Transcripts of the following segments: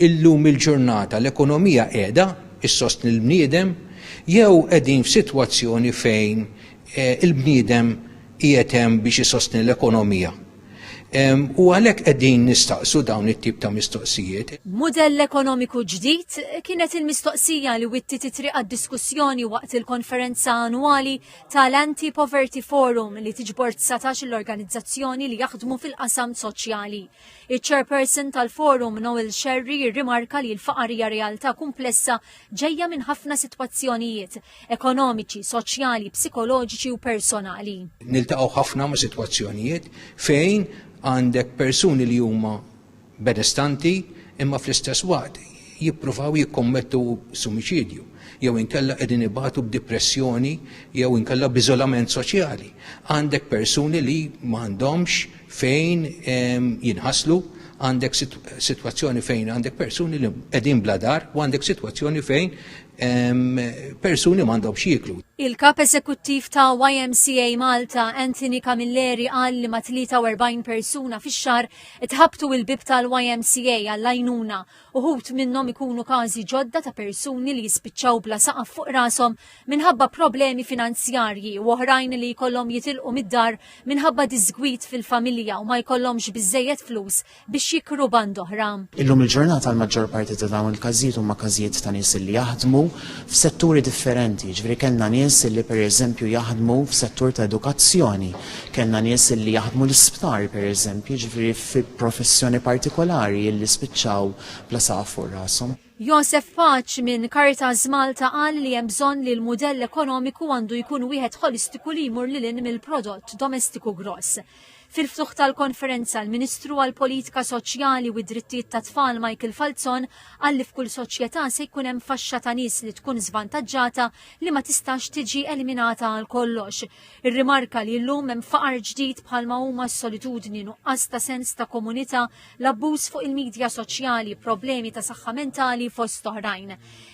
Illum il-ġurnata l-ekonomija qiegħda ssostni l-bniedem jew qegħdin f'sitwazzjoni fejn il-bniedem qiegħed hemm biex isostni l-ekonomija? U għalhekk qegħdin nistaqsu dawn it-tip ta' mistoqsijiet. Mudell ekonomiku ġdid? kienet il-mistoqsija li wittiet it-triq għad-diskussjoni waqt il-konferenza annwali ta' l-Anti-Poverty Forum li tiġbor dsatax-il organizzazzjoni li jaħdmu fil-qasam soċjali. Iċ-Chairperson tal-Forum Noel Scerri jirrimarka li l-faqar hija realtà kumplessa ġejja minn ħafna sitwazzjonijiet, ekonomiċi, soċjali, psikoloġiċi u personali. Niltaqgħu ħafna ma' sitwazzjonijiet fejn għandek persuni li huma benestanti imma fl-istess waqt jippruvaw jikkommettu sumiċidju jew inkella qegħdin ibatu b'dipressjoni jew inkella b'iżolament soċjali. Għandek persuni li m'għandhomx fejn jinħaslu għandek situazzjoni fejn għandek persuni li qegħdin bla dar u għandek situazzjoni fejn persuni m'għandhom xieklu. Il-kap eżekuttiv ta' YMCA Malta, Anthony Camilleri, qal li ma' 43 persuna fix-xar itħabtu il-bib tal-YMCA għall-għajnuna Uħud minnhom ikunu każi ġodda ta' persuni li jispiċċaw bla saqaf fuq rashom minħabba problemi finanzjarji u oħrajn li jkollhom jitilqu mid-dar minħabba diżgwid fil-familja u ma jkollhomx biżżejjed flus biex jikru band oħra. Illum il-ġurnata l-maġġor parti ta' dawn il-każijiet huma każijiet ta' nies li jaħdmu f'setturi differenti, jiġifieri kellna nies li pereżempju jaħdmu f'settur ta' edukazzjoni, kellna nies li jaħdmu l-isptar pereżempju, jiġifieri fi professjoni partikolari illi spiċċaw bla saqaf fuq rashom. Josef Paċ minn Caritas Malta qal li hemm bżonn li l-mudell ekonomiku għandu jkun wieħed ħolistiku li jmur lil hinn mill-prodott domestiku gross. Fil-ftuħ tal-konferenza l-Ministru għall-Politika Soċjali u d-Drittijiet tat-Tfal Michael Falzon qal li f'kull soċjetà se jkun hemm faxxa ta' nies li tkun żvantaġġata li ma tistax tiġi eliminata għal kollox. Irrimarka li llum hemm faqar ġdid bħalma huma s-solitudni, nuqqas ta' sens ta' komunità, l-abbuż fuq il-midja soċjali, problemi ta' saħħa mentali fost oħrajn.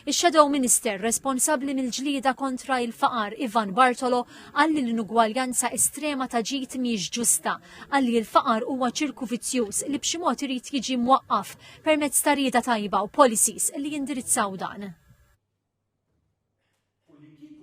Ix-Shadow Minister responsabbli mill-ġlieda kontra il-faqar Ivan Bartolo qal li l-inugwaljanza estrema ta' ġid mhijiex ġusta, qal li l-faqar huwa ċirku vizzjuż li b'xi mod irid jiġi mwaqqaf permezz ta' rieda tajba u policies li jindirizzaw dan. u li kieku